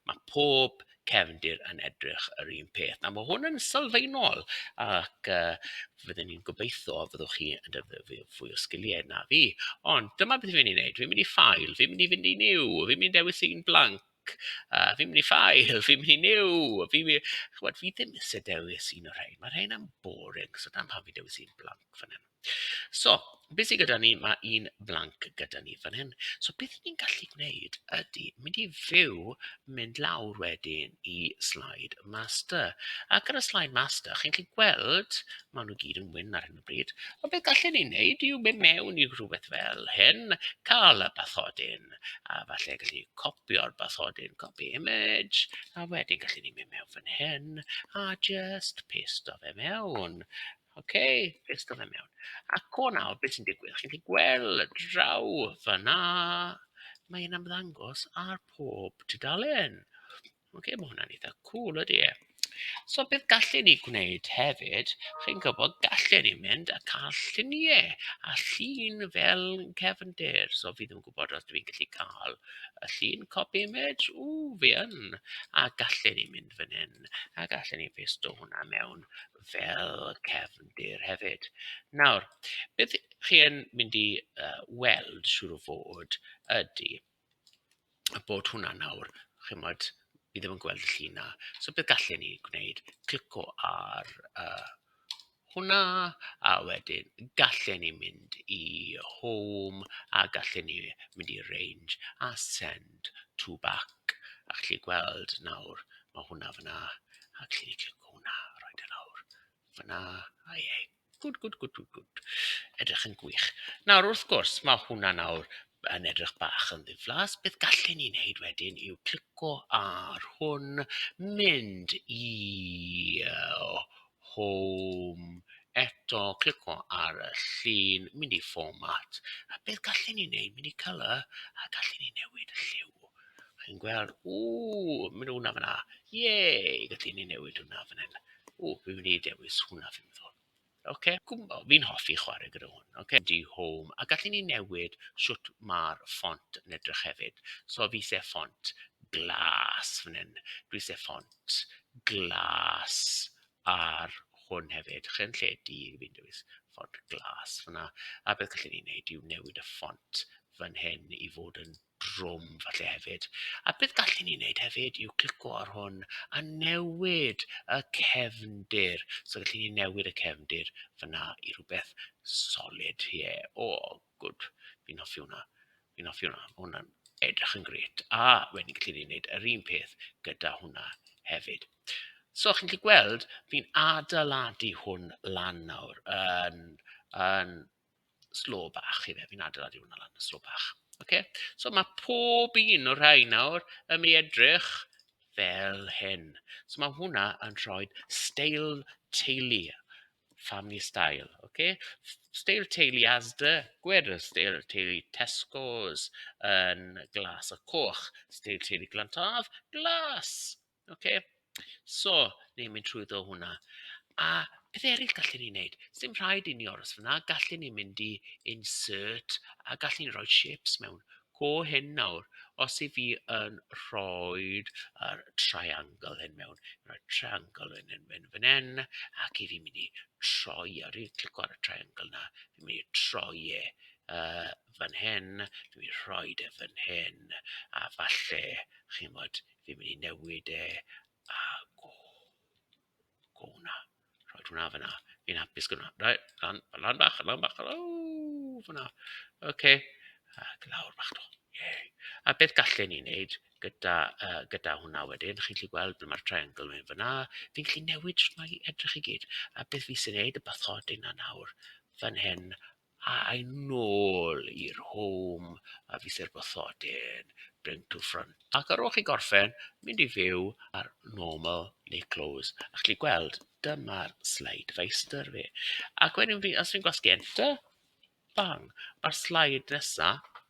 Mae pob cefndir yn edrych yr un peth. Nawr, mae hwn yn sylfaenol ac uh, fydden ni'n gobeithio fyddwch chi yn defnyddio fwy o sgiliau na fi. Ond dyma beth fi'n mynd i wneud. Fi'n mynd i ffail, fi'n mynd i fynd i new, fi'n mynd i dewis un blank, yy fi'n mynd i ffail, fi'n mynd i Nyw! Fi wi-... Chimod, fi ddim isie dewis un o'r rhain, ma' rheina'n boring, so dyna pam fi'n dewis un blank fan hyn. So, be sy gyda ni, ma' un blank gyda ni fan hyn, so beth ni'n gallu gwneud ydy mynd i fyw, mynd lawr wedyn i slide master, ac ar y slide master chi'n gallu gweld maen nhw gyd yn wyn ar hyn o bryd. y bryd, ond beth gallen ni wneud yw mynd mewn i rhywbeth fel hyn, cael y bathodyn, a falle gallu copio'r bathodyn, copy image, a wedyn gallen ni mynd mewn fan hyn, a just paste o fe mewn. OK, paste o fe mewn. Ac o nawr, beth sy'n digwydd? Chi'n gallu gweld draw fyna, mae'n ymddangos ar pob tudalen. Ok mae hwnna'n eitha cwl ydy e. So beth gallen ni gwneud hefyd, chi'n gwybod, gallen ni mynd a cael lluniau a llun fel cefndir. So fi ddim yn gwybod os dwi'n gallu cael y llun copy image, ww fi yn! A gallen ni mynd fan hyn a gallen ni pasto hwnna mewn fel cefndir hefyd. Nawr beth chi yn mynd i yy weld siŵr o fod ydy... bod hwnna nawr, chimod, fi ddim yn gweld y llun 'na. So be gallen ni gwneud, clico ar yy hwnna, a wedyn gallen ni mynd i home, a gallen ni mynd i range a send to back, a chi'n gallu gweld nawr, ma' hwnna fan'na, a gallen ni clicio hwnna a rhoid e lawr fan'na, a ie. Gwd, gwd, gwd, gwd, gwd. Edrych yn gwych. Nawr, wrth gwrs, mae hwnna nawr yn edrych bach yn ddiflas. Beth gallen ni wneud wedyn yw clico ar hwn, mynd i home eto, clico ar y llun, mynd i format. A beth gallen ni wneud? Mynd i colour a gallen ni newid y lliw. Chi'n gweld, ww, mynd hwnna fyna. Ie, gallen ni newid hwnna fan hyn. Ww, fi'n mynd i dewis hwnna fi'n meddwl. Ocê, gwmbo, fi'n hoffi chwarae gyda hwn. Ocê, du home, a gallen ni newid shwt ma'r ffont yn edrych hefyd. So fi isie ffont glas fan hyn, dwi isie ffont glas ar hwn hefyd. Lle yn lle du, fi'n dewis ffont glas fan'na. A beth gallen ni neud yw newid y ffont fan hyn i fod yn drwm falle hefyd. A beth gallen ni wneud hefyd yw clicio ar hwn a newid y cefndir. So gallen ni newid y cefndir fyna i rhywbeth solid. Ie, yeah. o, oh, gwd, fi'n hoffi hwnna. Fi'n hoffi hwnna, mae hwnna'n edrych yn gret. A wedyn gallen ni wneud yr un peth gyda hwnna hefyd. So chi'n gallu gweld, fi'n adeiladu hwn lan nawr yn, yn slo bach ife, fi'n adeiladu hwnna lan yn slo bach. Okay? So mae pob un o'r rhain nawr yn mynd i edrych fel hyn. So mae hwnna yn rhoi steil teulu, family style. Okay? Steil teulu Asda, gwed y steil teulu Tesco's yn glas a coch. Steil teulu Glantaf, glas. Ok so ni'n mynd trwyddo hwnna. A pethe eraill gallen ni wneud. Sdim rhaid i ni aros fan'na, gallen ni mynd i insert a gallen ni roi shapes mewn. Go hyn nawr, os 'y fi yn rhoid yr triangle hyn mewn, rhoi triangle hyn yn mynd fan hyn, ac 'y fi'n mynd i troi e, rwy'n clico ar y triangle 'na, fi'n mynd i troi e yy fan hyn, dwi'n mynd i rhoid e fan hyn, a falle, chi'n gwybod, Fi'n mynd i newid e a go go 'na. Rhoi hwnna fan'na. Fi'n hapus gyda 'na. Reit lan lan bach lan bach o fan'na. Ok a lawr bach 'to. Ie. A beth gallen ni wneud gyda yy gyda hwnna wedyn, chi'n gallu gweld ble mae'r triangle yn mynd fan'na. Fi'n gallu newid shwt mae'n edrych i gyd. A beth fi isie wneud, y bathodyn 'na nawr fan hyn A'i nôl i'r home a fythi'r bathodyn, bring to front. Ac ar ôl chi gorffen, mynd i fyw ar normal neu close. A chi'n gweld, dyma'r slide feistr fi. Ac wedyn fi, os fi'n gwasgu enter, bang, mae'r slide nesaf